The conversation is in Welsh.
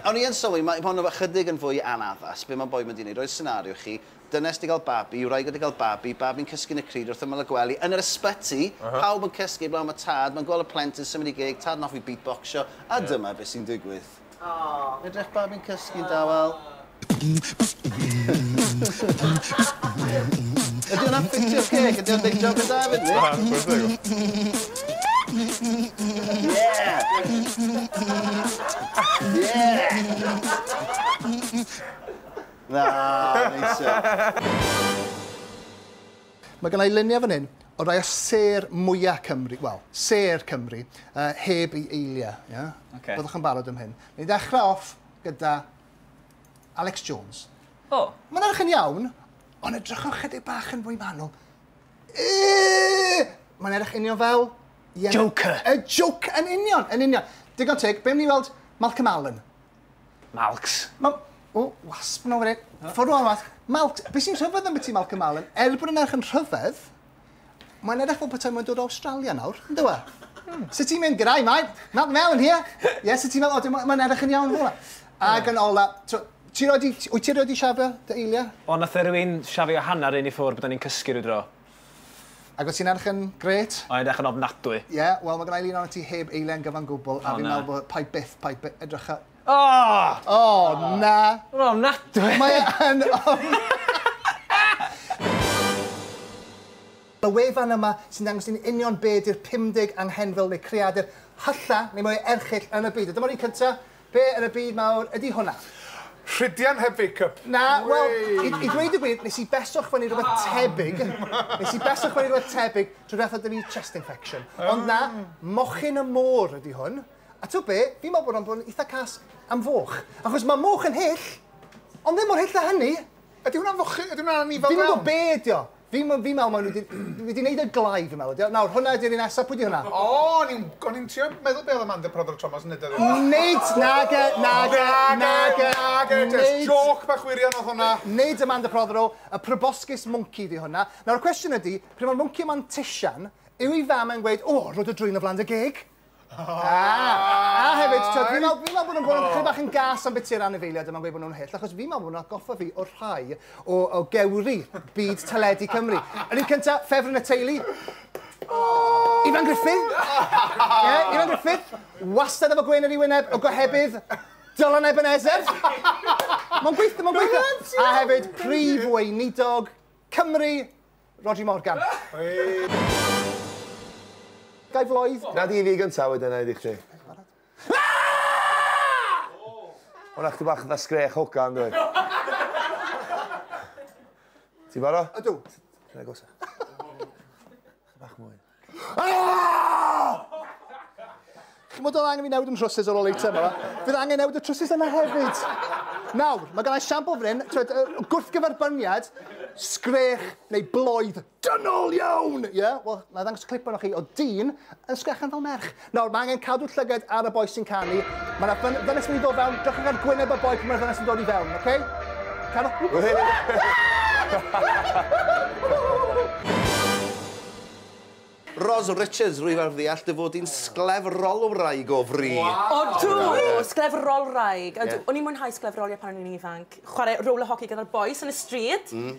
O'n i yn sylwi, mae hon efo chydig yn fwy anaddas, be mae boi mynd i wneud, roi'r senario i chi, dynes di gael babi, wraig wedi cael babi, babi'n cysgu yn y cryd wrth ymyl y gwely, yn yr ysbyty, pawb yn cysgu heblaw am y tad, mae'n gweld y plentyn symud i geg, tad yn hoffi beatboxio, a dyma be sy'n digwydd. Edrych babi'n cysgu'n dawel. Ydy hwnna'n ffitio ceg? Ydy o'n neud job yn dda efyd? Na, chwarae teg. Na, neis iawn. Mae gynna i luniau fan hyn o rai o sêr mwya Cymru, wel, sêr Cymru, yy, heb ei eiliau, ie? Ocê. Byddwch yn barod am hyn. Ni'n dechrau off gyda Alex Jones. O. Mae'n edrych yn iawn, ond edrychwch chydig bach yn fwy manwl. Mae'n edrych union fel... Yeah, Joker. Y Joker, yn union, yn union. Digon teg, be'n ni weld Malcolm Allen? Malcs. Ma... O, wasp yn ofyn i. Ffordd o'n fath. Malcs, beth sy'n rhyfedd am beth i Malcolm Allen? Er bod yn edrych yn rhyfedd, Mae'n edrych fel petai mae'n dod o Awstralia nawr, yn dywe? Hmm. Sut ti'n mynd gyda'i mae? Not now in here. Ie, sut ti'n meddwl? O, mae'n edrych yn iawn hwnna. Ac yn ola, ti roi di, wyt ti roi di siafio dy eilia? O, nath e rwy'n siafio hanner un i ffwr bod ni'n cysgu rwy dro. Ac wyt ti'n edrych yn gret? O'n edrych yn ofnadwy. Ie, yeah, wel mae gennau lun o'n ti heb eiliau'n gyfan gwbl, a fi'n meddwl bod pai byth, pai byth, edrycha, O! O, na! Ma'n ofnadwy! Mae yn Y wefan yma sy'n dangos i ni union be ydy'r 50 anghenfil neu creadur hylla neu mwyaf erchyll yn y byd. A dyma'r un cynta, be yn y byd mawr ydy hwnna? Rhydian heb fake-up. Na, wel, i, i ddweud y gwir, nes i beswch fyny rhywbeth ah. tebyg. Nes i beswch fyny rhywbeth tebyg trwy beth oedd ni chest infection. Ond na, ah. mochyn y môr ydy hwn. A t'wod be'? Fi'n meddwl bod o'n bod yn eitha cas am foch. Achos mae moch yn hyll, ond ddim mor hyll â hynny. Ydy hwnna'n foch- ydy hwnna'n anifail iawn? Fi'm yn gwybod be' ydi o. Fi'n meddwl fi'n meddwl mae nhw 'di wedi wneud e'n glai fi'n meddwl ydi o. Nawr, hwnna ydi'r un nesaf. Pwy 'di hwnna? O! O'n i'n o'n i'n trio meddwl be' oedd Amanda Prothero Thomas yn wneud o. Nid! Nage, nage, nage, nage, jyst jôc bach wirion oedd hwnna. Nid Amanda Prothero, y proboscis mwnci 'di hwnna. Nawr, y cwestiwn ydi, pryd mae'r mwnci yma'n tisian, yw ei fam e'n gweud, 'O, rho dy drwyn o flan dy geg'? A hefyd, ti'n gwbod, fi'n meddwl, fi'n meddwl bod nhw'n bod yn chydig bach yn gas am beth i'r anifeiliaid yma'n gweud bod nhw'n hyll, achos fi'n meddwl bod nhw'n atgoffa fi o rhai o, o gewri byd teledu Cymru. Yr un cynta, ffefryn y teulu. Ifan Griffith. Ie, Ifan Griffith. Wastad efo gwên ar ei wyneb, o gohebydd. Dylan Ebenezer. Mae'n gweithio, mae'n gweithio. A hefyd, prif weinidog Cymru, Rhodri Morgan. Guy Floyd. Gad i fi gynta wedyn na'i di chdi. Hwna chdi bach fatha sgrech hogan dwi. Ti baro? Ydw. Rhoi agosach. Bach mwy. Chymod oedd angen fi newid yn trwsus ar ôl ei tyma. Fydd angen newid y trwsus yna hefyd. Nawr, mae gennau siampl fan hyn, twed, gwrthgyferbyniad, sgrech neu bloedd dynol iawn! Ie? Yeah? Wel, na ddangos clip yno chi o dyn yn sgrechan fel merch. Nawr, mae angen cadw llyged ar y boi sy'n canu. Mae yna fyn ddynes wedi dod fewn. Drychwch ar gwyneb y boi pan mae'r ddynes yn dod i fewn, oce? Okay? Cadwch... Ros Richards, rwyf ar ddeall dy fod i'n sglefrolwraig o fri. Wow. Odw! Sglefrolwraig. Odw. Yeah. O'n i'n mwynhau sglefrolio pan o'n i'n ifanc. Chwarae roller hockey gyda'r boys yn y stryd. Mm.